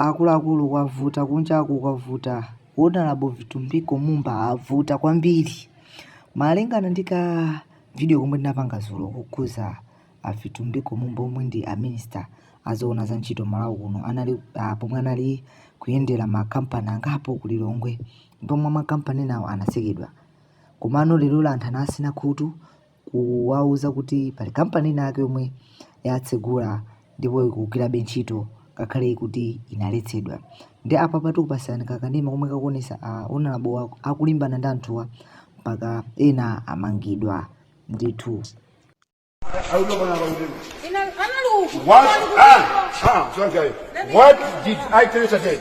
Akuluakulu kwavuta kunjaku kwavuta onalabo vitumbiko mumba avuta kwambiri malingana ndi ka video komwe ndinapanga dzulo kukhudza a vitumbiko mumba omwe ndi a minister azoona za ntchito malawi kuno anali ah, pomwe anali kuyendera makampani angapo ku lilongwe pomwe makampani enawo anatsekedwa komano lero anthu anatsina khutu kuwauza kuti pali kampani ina yake yomwe yatsegula ndipo ikugwirabe ntchito ngakhale kuti inaletsedwa ndi apa pa tikupatsirani kakanema komwe kakuonetsa a onalabowa akulimbana ndi anthuwa mpaka ena amangidwa ndithu What? Ah, ah, sorry. What did I tell you today?